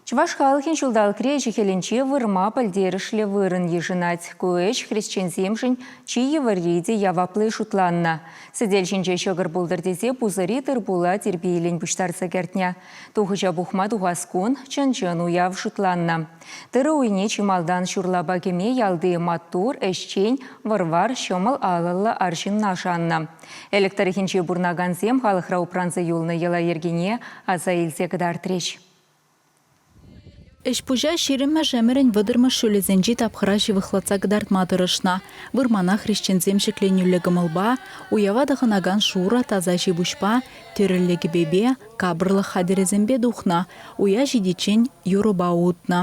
Чӑваш халӑхӗн ҫулталӑкри ӗҫӗ-хӗлӗнче вырма пӗлтерӗшлӗ вырӑн йышӑнать. Ку ӗҫ хресченсемшӗн чи йывӑрри те яваплли шутланнӑ. Сӗтел ҫинче ҫӑкӑр пултӑр тесе пусӑри тырпула тирпейлӗн пуҫтарса кӗртнӗ. Тухӑҫа пухма тухас кун чӑн-чӑн уяв шутланнӑ. Тырӑ уйне чи малтан ҫурлапа кӗме ялти маттур, ӗҫчен, вӑр-вар, ҫӑмӑл алӑллӑ арҫынна шаннӑ. Элӗк тӑрӑхӗнче пурӑнакансем халӑхра упранса юлнӑ йӑла-йӗркене аса илсе кӑтартрӗҫ. Ӗҫ-пуҫа ҫирӗммӗш ӗмӗрӗн вӑтӑрмӗш ҫулӗсенчи тапхӑра ҫывӑхлатса кӑтартма тӑрӑшнӑ. Вырмана хресченсем ҫӗкленӳллӗ кӑмӑлпа, уява тӑхӑнакан шурӑ таса ҫи-пуҫпа, тӗрӗллӗ кӗпепе, капӑрлӑх хатӗрӗсемпе тухнӑ, уя ҫитиччен юрӑпа утнӑ.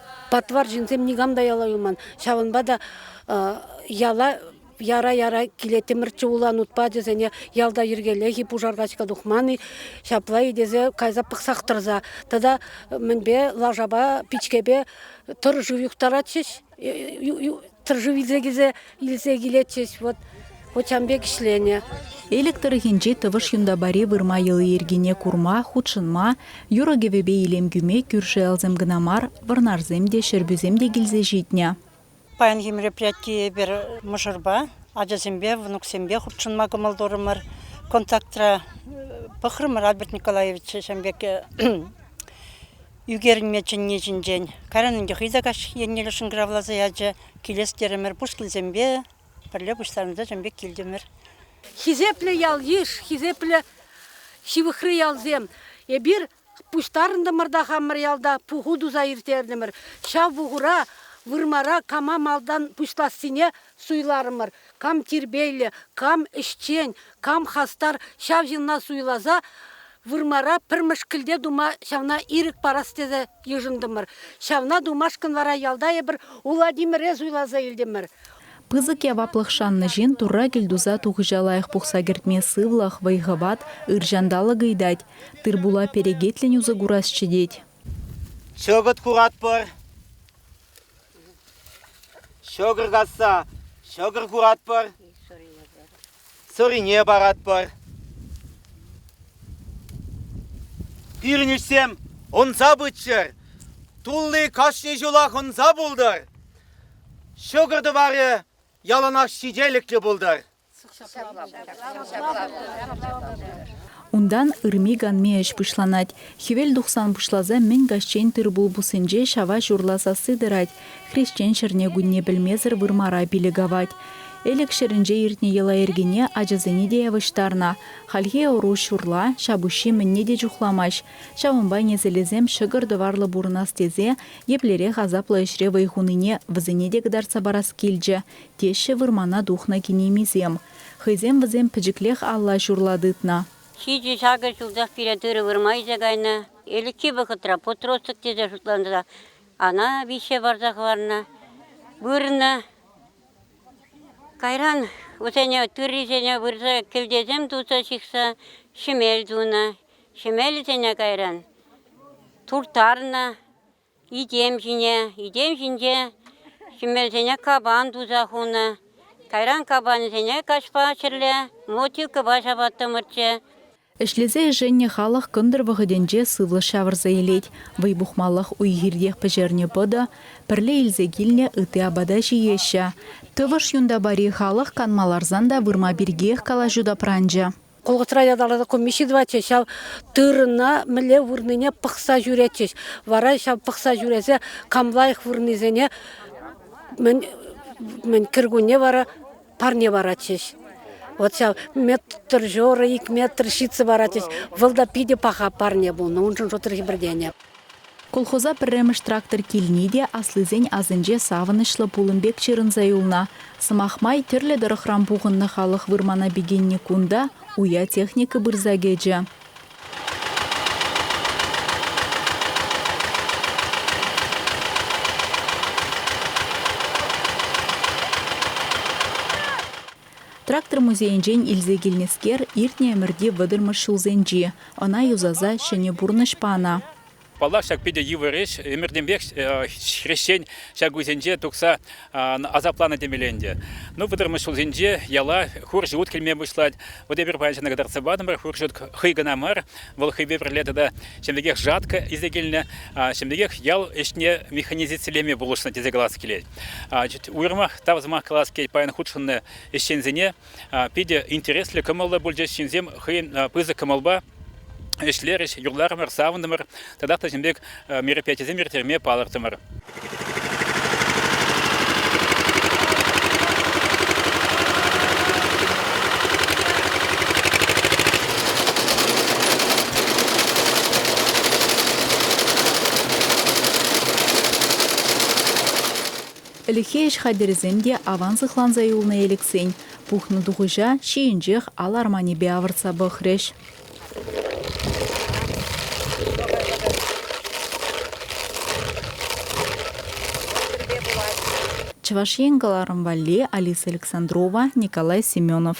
Патвар ҫынсем никам та яла юлман. Ҫавӑнпа та яла яра-яра килеттӗмӗрччӗ улан ут пачӗсене. Ялта йӗркеллех-и, пушар качка тухман-и, ҫапла-и тесе кайса пӑхсах тӑрса. Тата мӗнпе, лашапа, пичкепе тӑрӑшу юхтаратчӗҫ. Тӑршшӗ илсе килсе илсе килетчӗҫ, вот вот ҫан пек ӗҫленӗ. Элӗк тӑрӑхӗнчи Тӑвӑш Юнтапари вырма йӑли-йӗркине курма, хутшӑнма, юрӑ-кӗвӗпе илем кӳме кӳршӗ ялсем кӑна мар, вӑрнарсем те, ҫӗрпӳсем те килсе ҫитнӗ. Паянхи мероприятие эпир мӑшӑрпа, ачасемпе, внуксемпе хутшӑнма кӑмӑл турӑмӑр. Контактра пӑхрӑмӑр Альберт Николаевича ҫан пек Ӳкерӗнме чӗнни ҫинчен кайран ӗнтӗ хӑй те каҫ еннелле шӑнкӑравласа ячӗ. Килес терӗмӗр, пуш килсемпе пӗрле пуҫланса чӑн пек килтӗмӗр. Хисеплӗ ял-йыш, хисеплӗ ҫывӑхри ялсем, эпир пуҫтарӑнтӑмӑр та хамӑр ялта пуху туса ирттертӗмӗр. Ҫав пухура вырмара кама малтан пуҫлассине Суйларӑмӑр. Кам тирпейлӗ, кам ӗҫчен, кам хастар, ҫав ҫынна суйласа вырмара пӗр мӗшкӗлте тума ҫавна ирӗк парас тесе йышӑнтӑмӑр. Ҫавна тумашкӑн вара ялта эпир Улатимӗре суйласа илтӗмӗр. Пысӑк яваплӑх шаннӑ ҫын Турра кӗлтуса тухӑҫа лайӑх пухса кӗртме сывлӑх, вӑй-хӑват, ырҫанталӑк ыйтать, тыр-пула перекетлӗн усӑ курасчӗ тет. Чӑкӑт куратпӑр. Ҫӑкӑр касса ҫӑкӑр куратпӑр, сӑрине паратпӑр. Пирӗн ӗҫсем ӑнса пыччӑр. Тулли кашни ҫулах ӑнса пултӑр. Ҫӑкӑр тӑварӗ яланах ҫителӗклӗ пултӑр. Унтан ырми-канми ӗҫ пуҫланать. Хӗвел тухсан пуҫласа мӗн каҫчен тыр-пул пуссинче ҫава ҫурла сасси тӑрать. Хресчен ҫӗрне-кунне пӗлмесӗр вырмара пилӗк авать. Элӗк ҫӗрӗнче иртнӗ йӑла-йӗркене ачасене те явӑҫтарнӑ. Хальхи ӑру ҫурла, ҫапуҫҫи мӗнне те чухламасть. Ҫавӑнпа несӗлӗсем ҫӑкӑр-тӑварлӑ пурӑнас тесе еплерех асаплӑ ӗҫре вӑй хунине вӗсене те кӑтартса парас килчӗ, теҫҫӗ вырмана тухнӑ кинемисем. Хӑйсем вӗсем пӗчӗклех алла ҫурла тытнӑ. Ҫичӗ-ҫакӑ ҫулсах пире тырӑ вырма илсе кайнӑ. Ӗлӗкхи вӑхӑтра подросток тесе шутланса ана виҫсе парса хӑварнӑ, вырнӑ. Кайран вӗсене тыррисене вырса кӗлтесем туса ҫыхса ҫӗмел тунӑ. Ҫӗмелӗсене кайран турттарнӑ. Итем ҫине, итем ҫинче ҫӗмӗрсене капан туса хунӑ. Кайран капанӗсене каҫпа ҫӗрле мотикӑпа ҫапаттӑмӑрччӗ. Ӗҫлесе ӗшеннӗ халӑх кӑнтӑр вӑхӑтӗнче сывлӑш ҫавӑрса илет. Вӑй пухмаллах уй-хиртех пӗҫернӗ пӑтӑ, пӗрле илсе килнӗ ытти апата ҫиеҫҫӗ. Тӑвӑш Юнтапари халӑх канма ларсан та вырма пиркиех калаҫу тапранчӗ. Колхозра ятарласа комисси тӑватчӗҫ, ҫав тырӑна мӗнле вырнине пӑхса ҫӳретчӗҫ. Вара ҫав пӑхса ҫӳресе кам лайӑх вырнисене мӗн, мӗн кӗркунне вара парне паратчӗҫ. Вот ҫав метр жора, ик метр ҫитсе паратчӗҫ. Вӑл та питӗ паха парне пулнӑ, уншӑн шутри хӗпӗртенӗ. Колхоза пӗрремӗш трактор килни те аслисен асӗнче савӑнӑҫлӑ пулӑм пек ҫырӑнса юлнӑ. Сӑмах май, тӗрлӗ тӑрӑхран пухӑннӑ халӑх вырмана пикеннӗ кун та уя техника пырса кӗчӗ. Трактор музейӗнчен илсе килнӗскер иртнӗ ӗмӗрти вӑтӑрмӗш ҫулсенчи, ӑна юсаса ҫӗнӗ пурнӑҫ панӑ. Паллах, ҫак питӗ йывӑр ӗҫ. Ӗмӗртенпех хресчен ҫак уйсенче тухса асапланӑ темелле ӗнтӗ. Ну, вӑтӑрмӗш ҫулсенче яла хурҫӑ ут килме пуҫлать. Вот эпир паян ҫакна кӑтартса патӑмӑр. Хурҫӑ ут хӑй кӑна мар, Вӑл хӑйпе пӗрле тата ҫӗмӗрӗкех жатка илсе килнӗ, ҫӗмӗрӗкех ял ӗҫне механизацилеме пулӑшнӑ тесе калас килет. Уйрӑмах тав сӑмах калас килет паян хутшӑннӑ ӗҫченсене. Питӗ интереслӗ кӑмӑллӑ пулчӗҫ ҫынсем хӑйӗн пысӑк кӑмӑлпа ӗҫлерӗҫ, юрларӑмӑр, савӑнтӑмӑр. Тата та ҫын пек мероприятисем ирттерме палӑртӑмӑр. Ӗлӗкхи ӗҫ хатӗрӗсем те аван сыхланса юлнӑ элӗксен пухнӑ тухӑҫа ҫийӗнчех ал арманӗпе авӑртса пӑхрӗҫ. Чӑваш Ен кӑларӑм валли Алиса Александрова, Николай Семенов.